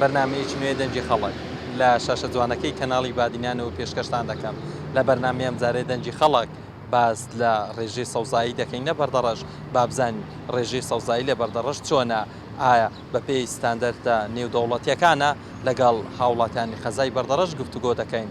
بەرنامەیەکی نوێی دەنگی خەڵک لە شاشە جوانەکەی کەناڵی بادینانەوە پێشکەشتان دەکەم، لە بەرنامەی ئەمجارەی دەنگی خەڵک باس لە ڕێژەی سەوزایی دەکەین لە بەردەڕەش، با بزانین ڕێژەی سەوزایی لە بەردەڕەش چۆنە، ئایا بەپێی ستاندەرتە نێودەوڵەتییەکانە؟ لەگەڵ هاوڵاتیانی قەزای بەردەڕەش گفتوگۆ دەکەین.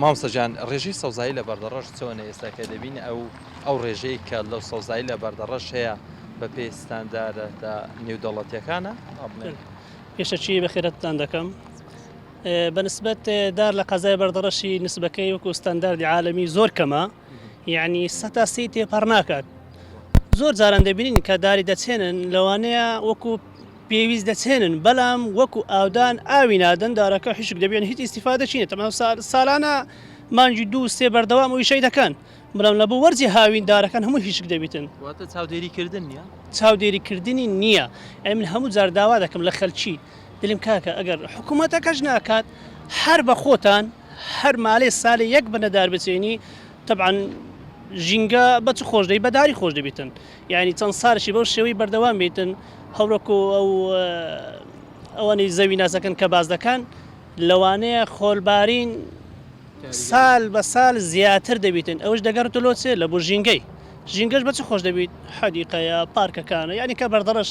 مامۆستا گیان ڕێژەی سەوزایی لە بەردەڕەش چۆنە ئێستا کە دەبین ئەو ئەو ڕێژەی کە لەو سەوزایی لە بەردەڕەش هەیە بە پێی ستاندارە تا نێودەوڵەتیەکانە پێشەچی بەخێرەتتان دەکەم بەنسبەت دار لە قەزای بەردەڕەشی نسبەکەی وەکو ستانداردی عاالمی زۆر کەمە یعنی سەتا سی تێپەڕ ناکات زۆر جاران دەبینین کە داری دەچێنن لەوانەیە وەکو پێویست دەچێنن بەلام وەکو ئاودان ئاوی نادەن دارەکە حیشک دەبێن هیچ ئیستیفادە چینە تەمام سالانە مانگی دوو سێ بەردەوام ئویشەی دەکەن بەلام لە بۆ وەرزی هاوین دارەکان هەموو هیشک دەبیتن واتە چاودێری کردن نیە؟ چاودێری کردنی نیە ئەی من هەموو جار داوا دەکەم لە خەلکی دلم کاکە ئەگەر حکومەتەکەش ناکات هەر بە خۆتان هەر مالێ سالێ یەک بنە دار بچێنی تەبعەن ژینگە بە چ خۆش دەبی بە داری خۆش دەبیتن یانی چەند سالشی بەو شێوەی بەردەوام بیتن هەورەکو ئەو ئەوانی زەوی ناسەکەن کە باس دەکان لەوانەیە خۆلبارین سال بە سال زیاتر دەبیتن ئەوش دەگەڕێتە لۆ چێ لە بۆ ژینگەی ژینگەش بەچ خۆش دەبیت حەدیقەیە پارکەکانە یانی کە بەردەڕەش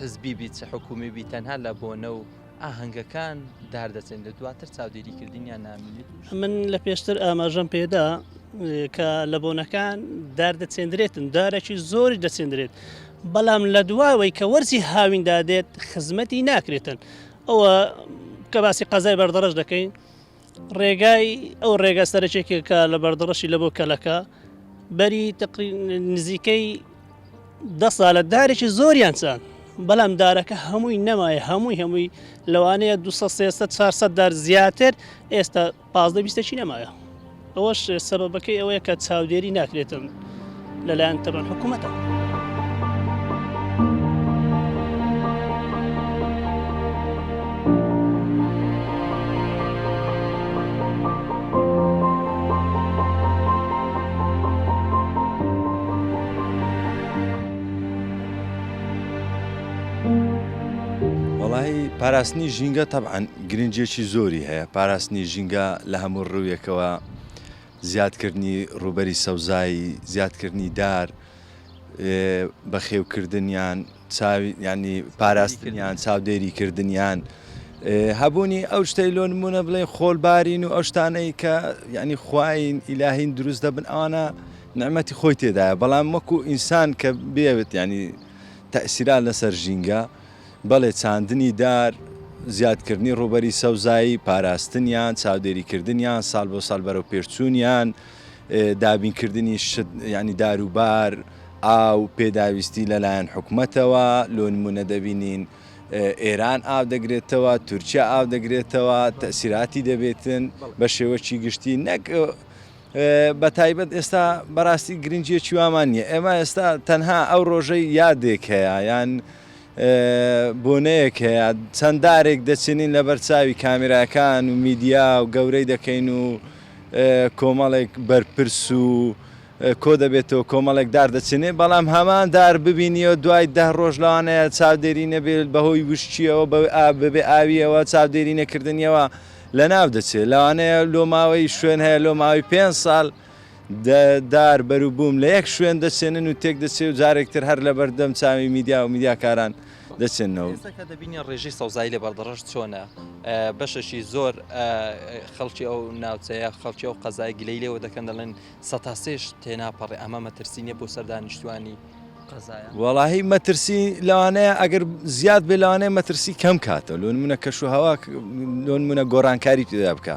حزبی بیت چ حکومی بیت تەنها لە بۆنە و ئاهەنگەکان دار دەچن لە دواتر چاودێری کردنیان نامێنێت من لە پێشتر ئاماژەم پێدا کە لە بۆنەکان دار دەچێندرێتن دارێکی زۆری دەچێندرێت بەڵام لە دواوەی کە وەرزی هاویندا دێت خزمەتی ناکرێتن ئەوە کە باسی قەزای بەردەڕش دەکەین ڕێگای ئەو ڕێگا سەرەکێکە کە لە بەردەڕەشی لە بۆ کەلەکە بەری نزیکەی دە سالە دارێکی زۆریان چان بەڵام دارەکە هەمووی نەمایە هەمووی هەمووی لەوانەیە 400 دار زیاتر ئێستا پازدە بیستەکی نەمایە ئەوەش سەبەکەی ئەوەیە کە چاودێری ناکرێتم لەلایەن تەبەن حکوومەتەوە. پاراستنی ژینگە تەبعەن گرنگیەکی زۆری هەیە پاراستنی ژینگە لە هەموو ڕوویەکەوە زیادکردنی ڕووبەری سەوزایی، زیادکردنی دار، بەخێوکردنیان، پاراستنیان، چاودێری کردنیان، هەبوونی ئەو شتەی لۆ نموونە بڵێ خۆلبارین و ئەو شتانەی کە یعنی خواین ئیلاهین دروست دەبن ئەوانە نعمەتی خۆی تێدایە بەڵام وەکو ئینسان کە بێوێت یعنی تەئسیرا لەسەر ژینگە. بەڵێ چاندنی دار، زیادکردنی ڕووبەری سەوزایی، پاراستنیان، چاودێریکردنیان، ساڵ بۆ ساڵ بەرەوپێشچوونیان، دابینکردنی شت یانی داروبار، ئاو، پێداویستی لەلایەن حکومەتەوە، لۆ نموونە دەبینین ئێران ئاو دەگرێتەوە، تورکیا ئاو دەگرێتەوە، تەئسیراتی دەبێتن بە شێوەکی گشتی نەک بەتایبەت ئێستا بەراستی گرنگیەکی وامان نیە ئێمە ئێستا تەنها ئەو ڕۆژەی یادێک هەیە یان بۆنەیەک هەیە چەنددارێک دەچێنین لە بەرچاوی کامیراکان و میدیا و گەورەی دەکەین و کۆمەڵێک بەرپرس و کۆ دەبێتەوە کۆمەڵێک دار دەچێنێ بەڵام هەمان دار ببینیەوە دوای ده ڕۆژ لەوانەیە چاودێری نەبێت بەهۆی وشتیەوە بەوێ ئابێ ئاویەوە چاودێری نەکردنیەوە لەناو دەچێت لەوانەیە لۆ ماوەی شوێن هەیە لۆ ماوەی پێنج ساڵ دار بەروبووم لە یەک شوێن دەچێنن و تێک دەچێت و جارێک تر هەر لەبەردەم چاوی میدیا و میدیاکاران دەچێنەوە. ئێستا کە دەبینین ڕێژەی سەوزایی لە بەردەڕەش چۆنە، بەشێکی زۆر خەڵکی ئەو ناوچەیە، خەڵکی ئەو قەزایە گلەی لێوە دەکەن دەڵێن سەتا سێش تێناپەڕێ، ئەمە مەترسی نییە بۆ سەر دانیشتووانی؟ وەڵاهی مەترسی لەوانەیە ئەگەر زیاد بێ لەوانەیە مەترسی کەم کاتەوە لۆن منە کەش و هەوا لۆن منە گۆڕانکاری تێدا بکە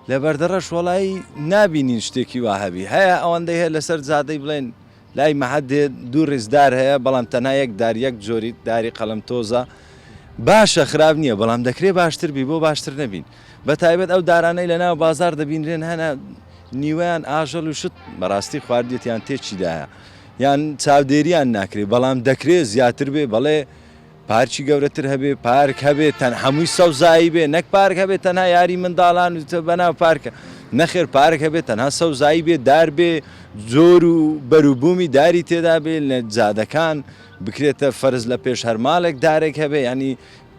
لە بەردەڕەش وەڵایی نبینین شتێکی وا هەبی هەیە ئەوەندەی هەیە لەسەر زادەی بڵێن لای مەحەد دێ دوو ڕێزدار هەیە بەڵام تەنها یەک دار یەک جۆری داری قەلم تۆزە باشە خراپ نییە بەڵام دەکرێ باشتر بی بۆ باشتر نەبین بە تایبەت ئەو دارانەی لە ناو بازار دەبینرێن هەنە نیوەیان ئاژەل و شت بەڕاستی خواردێتیان تێچیدایە یان چاودێریان ناکرێت بەڵام دەکرێت زیاتر بێ بەڵێ پارچی گەورەتر هەبێ پارک هەبێت تەن هەمووی سەوزایی بێ نەک پارک هەبێت تەنها یاری منداڵان و تە بەناو پارکە نەخێر پارک هەبێت تەنها سەوزایی بێ دار بێ زۆر و بەروبوومی داری تێدا بێ لە جادەکان بکرێتە فەرز لە پێش هەرماڵێک دارێک هەبێ ینی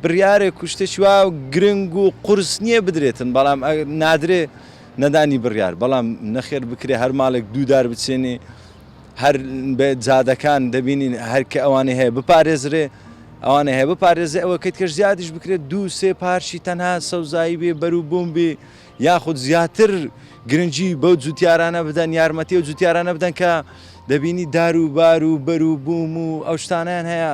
بڕیارێک و شتێکی وا گرنگ و قورس نییە بدرێتن، بەڵام نادرێ نەدانی بڕیار، بەڵام نەخێر بکرێ هەر ماڵێک دوو دار بچێنێ، هەر جادەکان دەبینین هەر کە ئەوانەی هەیە بپارێزرێ، ئەوانەی هەیە بپارێزێ، ئەوە کەی تکەش زیادیش بکرێ دوو سێ پارچی تەنها سەوزایی بێ بەر و بووم بێ، یاخود زیاتر گرنگی بەو جووتیارانە بدەن، یارمەتی ئەو جووتیارانە بدەن کە دەبینی دار و بار و بەر و بووم و ئەو شتانەیان هەیە.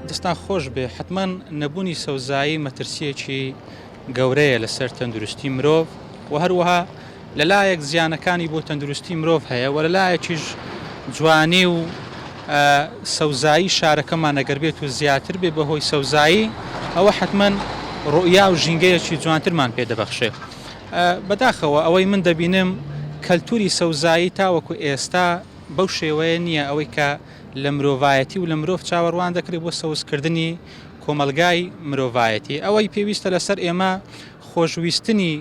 دەستان خۆش بێ حەتمەن نەبونی سەوزایی مەترسیەکی گەورەیە لەسەر تەندروستی مرۆڤ وە هەروەها لەلایەک زیانەکانی بۆ تەندروستی مرۆڤ هەیە وە لەلایەکیش جوانی و سەوزایی شارەکەمان ئەگەر بێت و زیاتر بێ بەهۆی سەوزایی ئەوە حەتمەن ڕوئیا و ژینگەیەکی جوانترمان پێ دەبەخشێ بەداخەوە ئەوەی من دەبینم کەلتوری سەوزایی تاوەکو ئێستا بەو شێوەیە نیە ئەوەی کە لە مرۆڤایەتی و لە مرۆڤ چاوەڕوان دەکرێت بۆ سەوزکردنی کۆمەڵگای مرۆڤایەتی ئەوەی پێویستە لەسەر ئێمە خۆشویستنی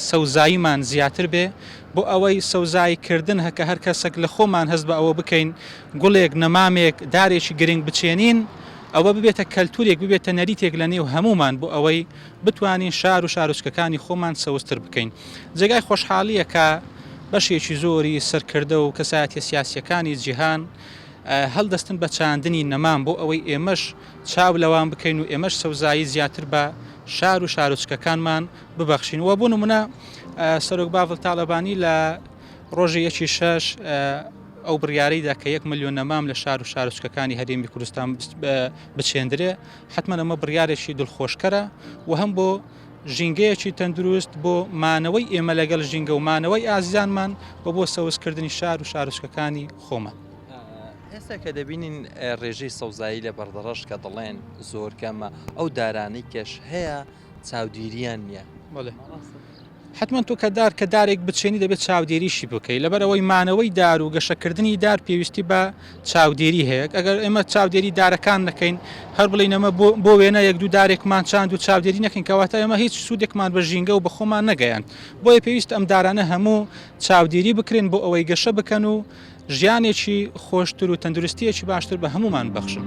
سەوزاییمان زیاتر بێ بۆ ئەوەی سەوزایی کردن هەکە هەر کەسێک لە خۆمان هەست بە ئەوە بکەین گوڵێک نەمامێک دارێکی گرنگ بچێنین ئەوە ببێتە کەلتورێک ببێتە نەریتێک لە نێو هەموومان بۆ ئەوەی بتوانین شار و شارۆچکەکانی خۆمان سەوزتر بکەین. جێگای خۆشحاڵییە کە بەشێکی زۆری سەرکردە و کەسایەتییە سیاسییەکانی جیهان هەڵدەستن بە چاندنی نەمام بۆ ئەوەی ئێمەش چاو لەوان بکەین و ئێمەش سەوزایی زیاتر بە شار و شارۆچکەکانمان ببەخشین و بۆ نموونە سەرۆک باڤڵ تاڵەبانی لە ڕۆژی یەکی شەش ئەو بڕیارەی دا کە یەک ملیۆن نەمام لە شار و شارۆچکەکانی هەرێمی کوردستان بچێندرێ حەتمەن ئەمە بڕیارێکی دڵخۆشکەرە و هەم بۆ ژینگەیەکی تەندروست بۆ مانەوەی ئێمە لەگەڵ ژینگە و مانەوەی ئازیزانمان و بۆ سەوزکردنی شار و شارۆچکەکانی خۆمان. ئێستا کە دەبینین ڕێژەی سەوزایی لە بەردەڕەش کە دەڵێن زۆر کەمە، ئەو دارانەی کەش هەیە، چاودیریان نیە. بەڵێ حەتمەن تۆ کە دار کە دارێک بچێنی دەبێت چاودێریشی بکەیت لەبەر ئەوەی مانەوەی دار و گەشەکردنی دار پێویستی بە چاودێری هەیە ئەگەر ئێمە چاودێری دارەکان نەکەین هەر بڵین ئەمە بۆ وێنە یەک دوو دارێکمان چاند و چاودێری نەکەین کەواتە ئەمە هیچ سوودێکمان بە ژینگە و بەخۆمان نەگەیاند بۆیە پێویست ئەم دارانە هەموو چاودێری بکرێن بۆ ئەوەی گەشە بکەن و ژیانێکی خۆشتر و تەندروستیەکی باشتر بە هەمومان بەخشن.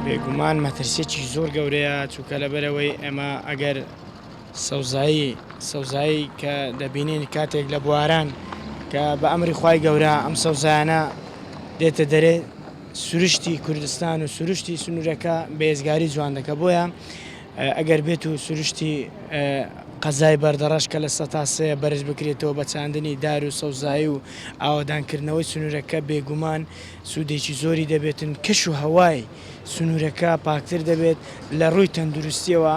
بێگومان مەترسیەکی زۆر گەورەیە چووکە لەبەرەوەی ئێمە ئەگەر سەوزایی سەوزایی کە دەبینین کاتێک لە بواران کە بە ئەمری خوای گەورە ئەم سەوزایانە دێتە دەرێ سروشتی کوردستان و سروشتی سنوورەکە بێزگاری جوان دەکە بۆیە ئەگەر بێت و سروشتی قەزای بەردەڕەش کە لە سە تا سێ بەرز بکرێتەوە بە چاندنی دار و سەوزایی و ئاوادانکردنەوەی سنوورەکە بێگومان سوودێکی زۆری دەبێتن کەش و هەوای سنوورەکە پاکتر دەبێت لە ڕووی تەندروستیەوە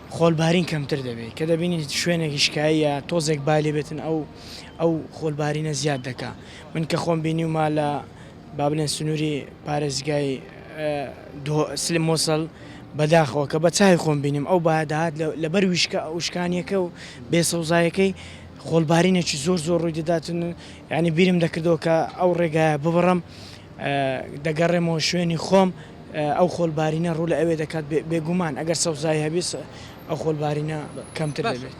خۆلبارین کەمتر دەبێت کە دەبینین شوێنێکی شکاییە تۆزێک بای لێ بێتن ئەو ئەو خۆلبارینە زیاد دەکا من کە خۆم بینیومە لە با بلێن سنووری پارێزگای سلیم موسڵ بەداخەوە کە بە چای خۆم بینیم ئەو بایە دەهات لەبەر ویشکە ئەوشکانیەکە و بێ سەوزایەکەی خۆلبارینێکی زۆر زۆر ڕووی دەداتن یعنی بیرم دەکردەوە کە ئەو ڕێگایە ببڕم دەگەڕێمەوە شوێنی خۆم ئەو خۆلبارینە ڕوو لە ئەوێ دەکات بێگومان ئەگەر سەوزایی هەبێت ئەو خۆلبارینە کەمتر دەبێت.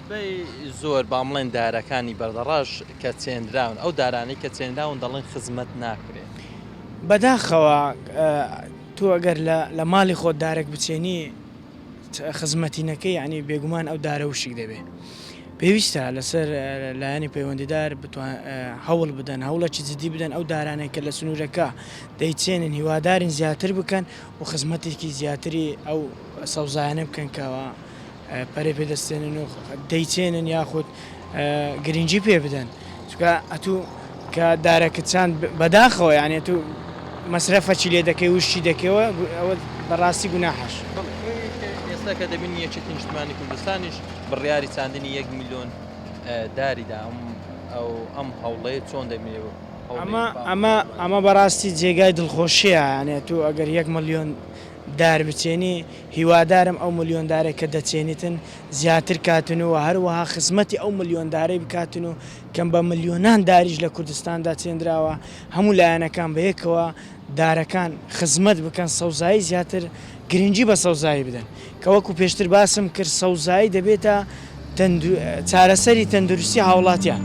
بەی زۆر با بڵێن دارەکانی بەردەڕەش کە چێنراون ئەو دارانەی کە چێنراون دەڵێن خزمەت ناکرێت. بەداخەوە تۆ ئەگەر لە ماڵی خۆت دارێک بچێنی خزمەتی نەکەی یعنی بێگومان ئەو دارە وشک دەبێت. پێویستە لەسەر لایەنی پەیوەندیدار هەوڵ بدەن هەوڵێکی جدی بدەن ئەو دارانەی کە لە سنوورەکە دەیچێنن هیوادارین زیاتر بکەن و خزمەتێکی زیاتری ئەو سەوزایانە بکەن کەەوە پەرەی پێدەستێنن و دەیچێنن یاخود گرنگی پێ بدەن. چونکە ئەتوو کە دارەکت چاند بەداخەوە یانی ئەتوو مەسرەفەچی لێ دەکەی وشتی دەکەی و ئەوە بەڕاستی گوناحەشە. بەڵێ ئێستا کە دەبینی یەکێتی نیشتمانی کوردستانیش بڕیاری چاندنی یەک ملیۆن داری دا ئەم هەوڵەی چۆن دەبینی ئەو هەوڵەی؟ ئەمە ئەمە ئەمە بەڕاستی جێگای دڵخۆشیە یانی ئەتوو ئەگەر یەک ملیۆن دار بچێنی، هیوادارم ئەو ملیۆن دارەی کە دەچێنیتن زیاتر کاتن و هەروەها خزمەتی ئەو ملیۆن دارەی بکاتن و کەم بە ملیۆنان داریش لە کوردستاندا چێندراوە هەموو لایەنەکان بە یەکەوە دارەکان خزمەت بکەن سەوزایی زیاتر گرنگی بە سەوزایی بدەن کە وەکو پێشتر باسم کرد سەوزایی دەبێتە چارەسەری تەندروستی هاوڵاتیان.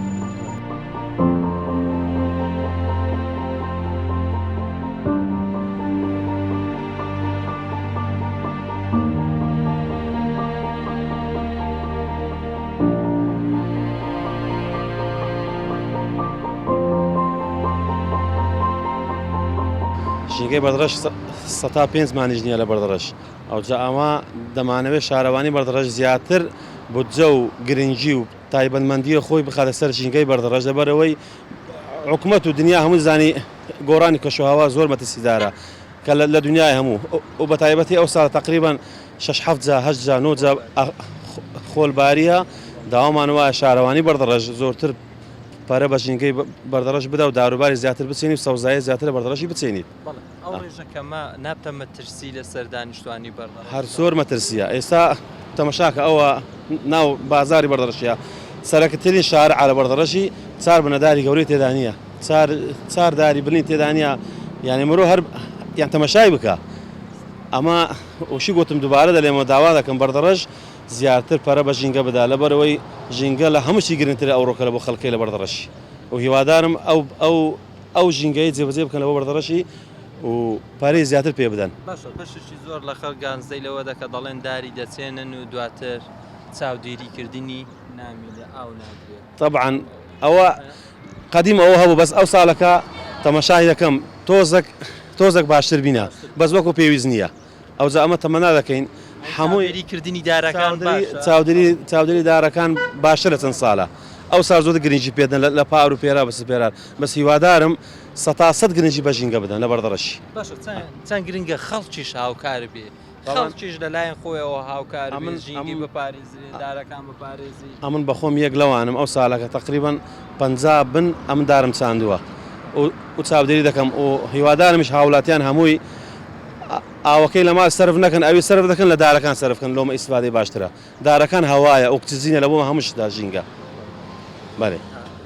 ژینگەی بەردڕەش سەتا پێنج مانیش نییە لە بەردڕەش ئەوجا ئەوا دەمانەوێت شارەوانی بەردەڕەش زیاتر بودجە و گرنگی و تایبەتمەندیە خۆی بخاتە سەر ژینگەی بەردەڕەش لەبەرئەوەی حکومەت و دنیا هەموو زانی گۆڕانی کەشوهەوا زۆر مەترسیدارە کە لە دنیای هەموو و بەتایبەتی ئەو ساڵ تقریبا شش حەفت جا هەشت جا نۆ جا خۆل باریە داوامان وایە شارەوانی بەردەڕەش زۆرتر پارە بە ژینگەی بەردەڕەش بدا و داروباری زیاتر بچێنی و سەوزایی زیاتر لە بەردەڕەشی بچێنیت. هەر زۆر مەترسیە ئێستا تەمەشاکە ئەوە ناو بازاری بەردەڕشیە سەرەکترین شار عرە بەردەڕشی چار بنەداری گەورەی تێدانە چارداری بنی تێدانە یعنی مرۆ هەر یان تەمەشای بکە ئەمە وشی گوتم دووبارە دەلێمە داوا دەکەم بەردەڕژ زیاتر پەرە بە ژینگە بدا لە بەرەوەی ژینگە لە هەمووشی گرنگتر ئەو ڕۆکەرە بۆ خەڵکی لە بەردەڕشی و هیوادارم ئەو ئەو ئەو ژینگەیە جێبەجێ بکەن لەوە بەردەڕەشی و پارەی زیاتر پێ بدەن. باشە بەشێکی زۆر لە خەڵک گانزەی لەوە دەکە دەڵێن داری دەچێنن و دواتر چاودێری کردنی نامینێ ئاو نادرێ. تەبعەن ئەوە قەدیم ئەوە هەبوو بەس ئەو ساڵەکە تەمەشای دەکەم تۆزەک تۆزەک باشتر بینە بەس وەکو پێویست نییە. ئەوجا ئەمە تەمەنا دەکەین هەمووی چاودێری کردنی دارەکان باشە چاودێری چاودێری دارەکان باشە لە چەند سالە ئەو سال زۆر گرنگی پێدەن لە پار و پێرا بەس پێرا بەس هیوادارم سەتا سەد گرنگی بە ژینگە بدەن لەبەر دەڕەشی. باشە چەن چەن گرنگە خەڵکیش هاوکار بێ خەڵکیش لەلایەن خۆیەوە هاوکار بێ ژینگەی بپارێزێ. زرێدارەکان بپارێزی. ئەمن بەخۆم یەک لەوانم ئەو سالەکە تەقریبەن پەنجا بن ئەمن دارم چاندوە و چاودێری دەکەم و هیوادارمیش هاولاتیان هەمووی ئاوەکەی لە مال سەرف نەکەن ئەوی سەرف دەکەن لە دارەکان سەرف کەن لۆمە ئیسفادەی باشترە دارەکان هەوایە ئوکتزینە لەبۆ هەموو شتدا ژینگە بەلێ.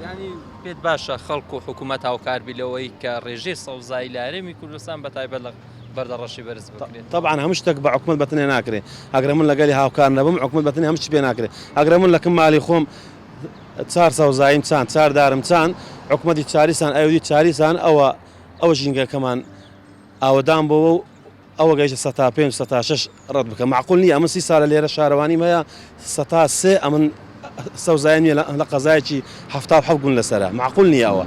یانی پێت باشە خەڵک و حکومەت هاوکار بی لەوەی کە رێژەی سەوزایی لە هەرێمی کوردستان بە تایبەت لە. بەردە ڕەشی بەرز بکرێت تەبعەن هەموو شتێک بە حکومەت بە تەنێ ناکرێ ئەگەر من لەگەلی هاوکار نەبم حکومەت بە تەنێ هەموو شت پێ ناکرێ ئەگەر من لەکم مالی خۆم چار سەوزاییم چاند چار دارم چاند حکومەتی چاریسان ئەودی چاریسان ئەوە ئەو ژینگەکەمان ئاوەدان بۆەوە و ئەوە گەیشتە سە تا پێ سە تا شش ڕەت بکە مەعقول نیە ئەمن سی سالە لێرە شارەوانیم هەیە سەتا سێ ئەمن سەوزایم نیە لە قەزایەکی حەفتا و حەوت گوند لەسەرە مەعقول نیە ئەوە.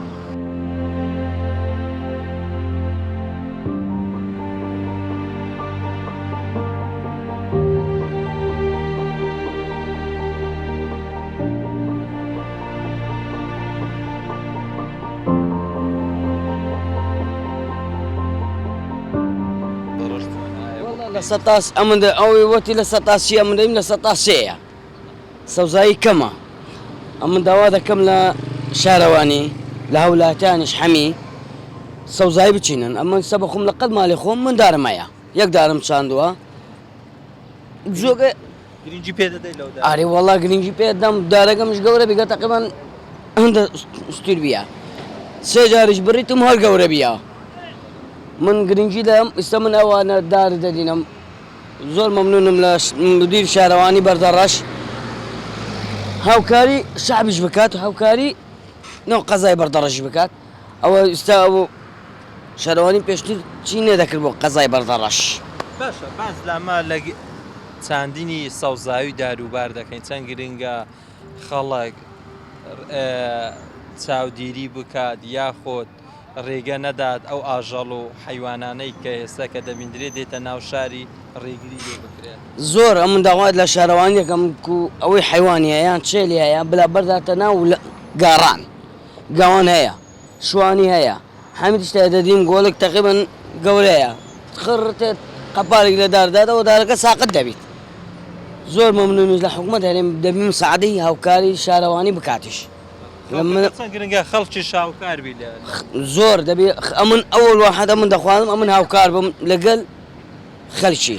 وەڵا لە سەتا ئەمن دە ئەوی وەتی لە سەتا سی ئەمن دەیم لە سەتا سێیە سەوزایی کەمە ئەمن داوا دەکەم لە شارەوانی لە هەولاتیانیش حەمی سەوزایی بچینن ئەمن سە بەخۆم لە قەت مالی خۆم من دارمەیە یەک دارم چاندووە جۆگە گرنگی پێ دەدەی لەو دارە؟ ئاری وەڵا گرنگی پێ دەم دارەکەمش گەورە بگە تەقیبەن هەندە ستیر بیە سێ جاریش بڕیتم هەر گەورە بیە من گرنگی دەم ئیستا من ئەوانە دار دەدینم زۆر مەمنونم لە مدیر شارەوانی بەردە ڕەش هاوکاری شعبیش بکات هاوکاری نەو قەزای بەردەڕەش بکات. ئەوە ئیستا ئەوە شارەوانی پێشتر چی نەدەکرد بۆ قەزای بەردەڕەش. باشە باس لە مە لە چاندنی سەوزاوی داروبار دەکەین چەند گرنگە خەڵک چاودێری بکات یاخود ڕێگە نەدات ئەو ئاژەڵ و حەیوانانەی کە ئێستا کە دەبیندرێت دێتە ناو شاری ڕێگری لێ بکرێت. زۆر ئەمن داوات لە شارەوانی دەکەم کو ئەوەی حەیوانی هەیە یان چێلی هەیە بلا بەرداتە ناو گاڕان. گەوەن هەیە شوانی هەیە حەمید شتێ دەدیم گۆلک تەقیبەن گەورەیە خڕ تێت قەپالێک لە دار دادەوە دارەکە ساقت دەبیت زۆر مەمنونیش لە حکومەت هەرێم دەبیم سەعدی هاوکاری شارەوانی بکاتیش گرنگە خەڵکی شاوکار بی زۆر دەبێ ئەمن ئەوەڵ وحدە من دەخوازم ئەمن هاوکار بم لەگەل خەلکی.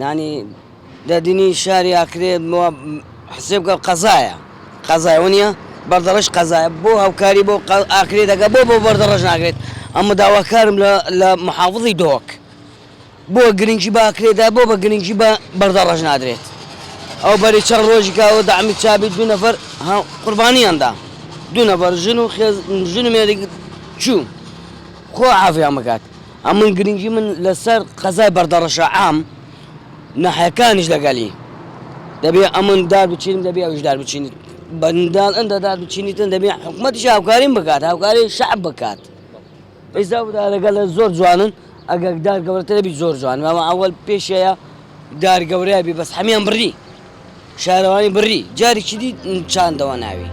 نانی دەدنی شاری ئاکرێ بۆ حسێ بکە قەزایە قەزای وەنیە بەردەڕش قەزایە بۆ هاوکاری بۆ ئاکرێ دەگە بۆ بۆ بەردەڕژ ناگرێت ئەمە داواکارم لە محافظی دۆک بۆ گرنگی باکرێدا بۆ بە گرنگی بە بەردەڕژ نادرێت ئەو بەری چەند ڕۆژی کاوە دامی چابی دو نەفەر قوربانیاندا دو نەفەر ژن و ژن و مێری چوو خۆ عافیان بکات هەمووی گرنگی من لەسەر قەزای بەردەڕەشە عام ناحیەکانیش لەگەلی دەبێ ئەمن دار بچینم دەبێ ئەویش دار بچینیت بەندال ئەندە دار بچینیتن دەبێ حکومەتیش هاوکاریم بکات هاوکاری شعب بکات ئیزا دارەگە لە زۆر جوانن ئەگەر دار گەورەترە بی زۆر جوان مامە ئەوەل پێشەیە دار گەورەیە بی بەس حەمیان بڕی شارەوانی بڕی جارێکی دی چاندەوە ناوی.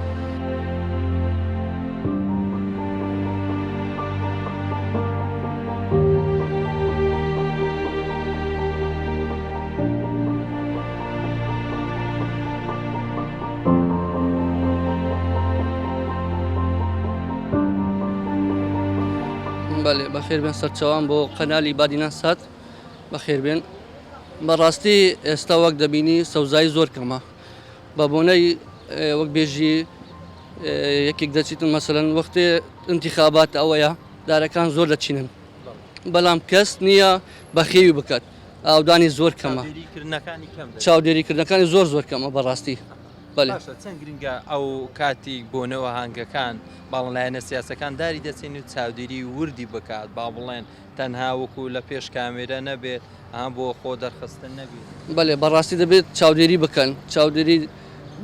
بەخێربێن سەرچاوان بۆ قەنالی بادینان سات. بەخێربێن بەڕاستی ئێستا وەک دەبینی سەوزایی زۆر کەمە بە بۆنەی وەک بێژی یەکێک دەچیتن مەسەن وەختێ انتخابات ئەوەیە دارەکان زۆر دەچینن بەڵام کەس نییە بەخێوی بکات ئاودانی زۆر کەمە چاودێریکردنەکانی زۆر زۆر کەمە بەڕاستی چەند گرنگە ئەو کاتی بۆنەوە هەنگەکان باڵەلایەنە سیاسەکان داری دەچین و چاودێری وردی بکات با بڵێن تەنها وەکو لە پێش کامێرە نەبێت ئەها بۆ خۆ دەرخستن نەبێت. بەلێ بەڕاستی دەبێت چاودێری بکەن چاودێری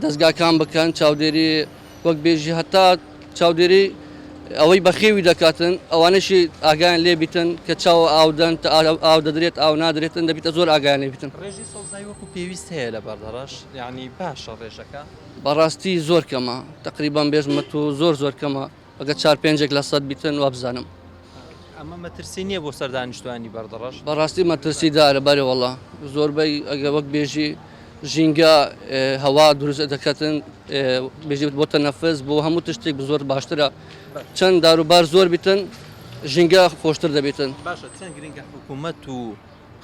دەزگاکان بکەن چاودێری وەک بێژی هەتا چاودێری ئەوەی بەخێوی دەکاتن ئەوانەشی ئاگیان لێبیتن کە چاو ئاودەن ئاو دەدرێت ئاو نادرێتن دەبیتە زۆر ئاگیان لێبیتن. ڕێژەی سەوزایی وەکو پێویست هەیە لە بەردەڕەش یانی باشە ڕێژەکە؟ بەڕاستی زۆر کەمە تەقریبەن بێژمە تۆ زۆر زۆر کەمە. ئەگەر چار پێنجێک لە سەد بیتن وابزانم. ئەمە مەترسی نییە بۆ سەر دانیشتوانی بەردەڕەش؟ بەڕاستی مەترسی دارە بەرێوەڵا زۆربەی ئەگە وەک بێژی ژینگە هەوا دروست دەکەن بێژیت بۆ تەنەفس بۆ هەموو تشتێک زۆر باشترە چەند داروبار زۆر بیتن ژینگە خۆشتر دەبێتن باشە چەند گرنگە حکوومەت و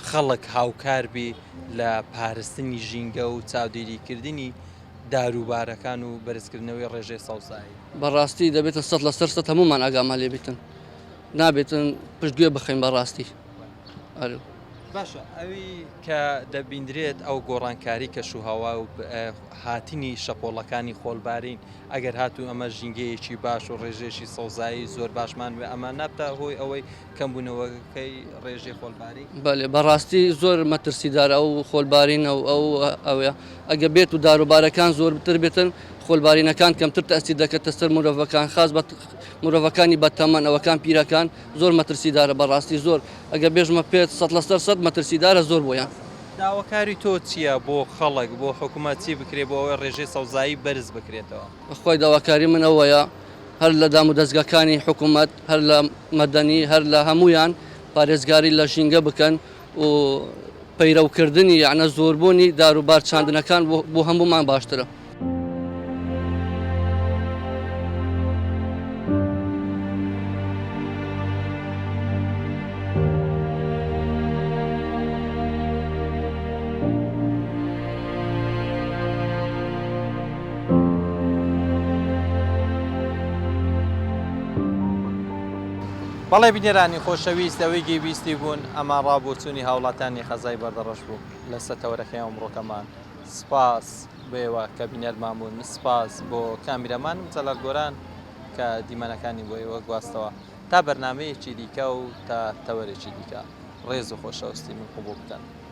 خەڵک هاوکار بی لە پارستنی ژینگە و چاودێریکردنی دارووبارەکان و بەرزکردنەوەی ڕێژەی سەوزایی. بەڕاستی دەبێتە سەد لەسەر سەد هەموومان ئاگامان لێ بێتن نابێتن پشت گوێ بخەین بەڕاستی ئەرێ. باشە ئەوی کە دەبیندرێت ئەو گۆڕانکاری کەش و هەوا و هاتنی شەپۆڵەکانی خۆلبارین ئەگەر هاتوو ئەمە ژینگەیەکی باش و ڕێژێکی سەوزایی زۆر باشمان وێ ئەمە نابتە هۆی ئەوەی کەمبوونەوەکەی ڕێژەی خۆڵباری؟ بەێ بەڕاستی زۆر مەترسیدار ئەو خۆلبارینە و ئەو ئەوێ ئەگە بێت و داروبارەکان زۆرتر بێتن خۆلبارینەکان کەمتر تەستی دەکەتە سەر مرۆڤەکان خاز بە مرۆڤەکانی بەتەمەن ئەوەکان پیرەکان زۆر مەترسیدارە بەڕاستی زۆر ئەگە بێژمە پێت سە لە سەر سەد مەترسیدارە زۆر بۆیان. داواکاری تۆ چییە بۆ خەڵک بۆ حکوومەت چی بکرێ بۆ ئەوەی ڕێژەی سەوزایی بەرز بکرێتەوە؟ بەخوای داواکاری من ئەوەیە هەر لە دام و دەستگاکانی حکوومەت هەر لە مەدەنی هەر لە هەموویان پارێزگاری لە ژینگە بکەن و پەیرەوکردنی یانە زۆربوونی داروبار چاندنەکان بۆ هەموومان باشترە. بەڵێ بینەرانی خۆشەویست لەوەی گێ بیستی بوون ئەمە ڕاو بۆچوونی هاوڵاتیانی غەزای بەردەڕەش بوو لە سەتەوەرەکەی ئەمڕۆکەمان سپاس بۆیەوە کە بینەرمان بوون سپاس بۆ کامیرەمانم جەلال گۆران کە دیمەنەکانی بۆ ئێوە گواستەوە تا بەرنمەیەکی دیکە و تا تەوەرێکی دیکە ڕێز و خۆشەوستی من قوبوڵ بکەن.